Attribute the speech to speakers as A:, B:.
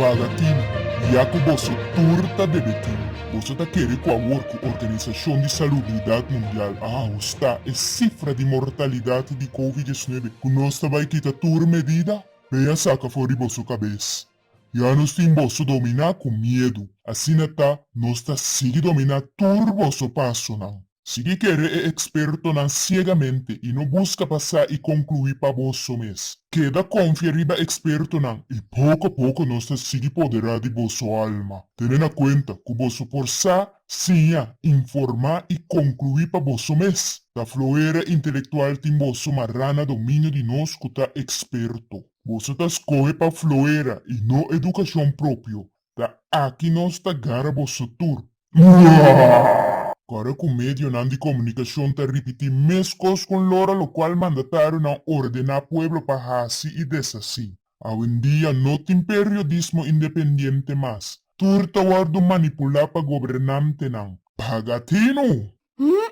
A: Paga tin, ya ku boso tur ta debe tin. Boso ta kere ku awor ku Organisashon di Salubridat Mundial a ahustá e sifra di mortalidat di Covid diecinuebe ku nos ta bai kita tur medida? Mei a saka for di boso kabes, Ya nos tin boso dominá ku miedu, asina ta nos ta sigui dominá tur boso pasonan. Sigui kere e ekspertonan siegamente i no buska pa sa i konkluí pa boso mes. Keda konfia riba ekspertonan i poko a poko nos ta sigui poderá di boso alma. Tene na kuenta ku boso por sa, siña, informá i konkluí pa boso mes. Ta floera intelektual tin boso mará na dominio di nos ku ta eksperto. Boso ta scohe pa floera y no educacion propio, ta aki nos ta gara boso tur. Ora cu medionan di comunicacion ta ripiti mes cos con lora locual mandatarionan ordena pueblo pa haci y deshaci. Awendia no tin periodismo independiente mas, tur ta wordo manipula pa gobernantenan. Paga tino! Hm!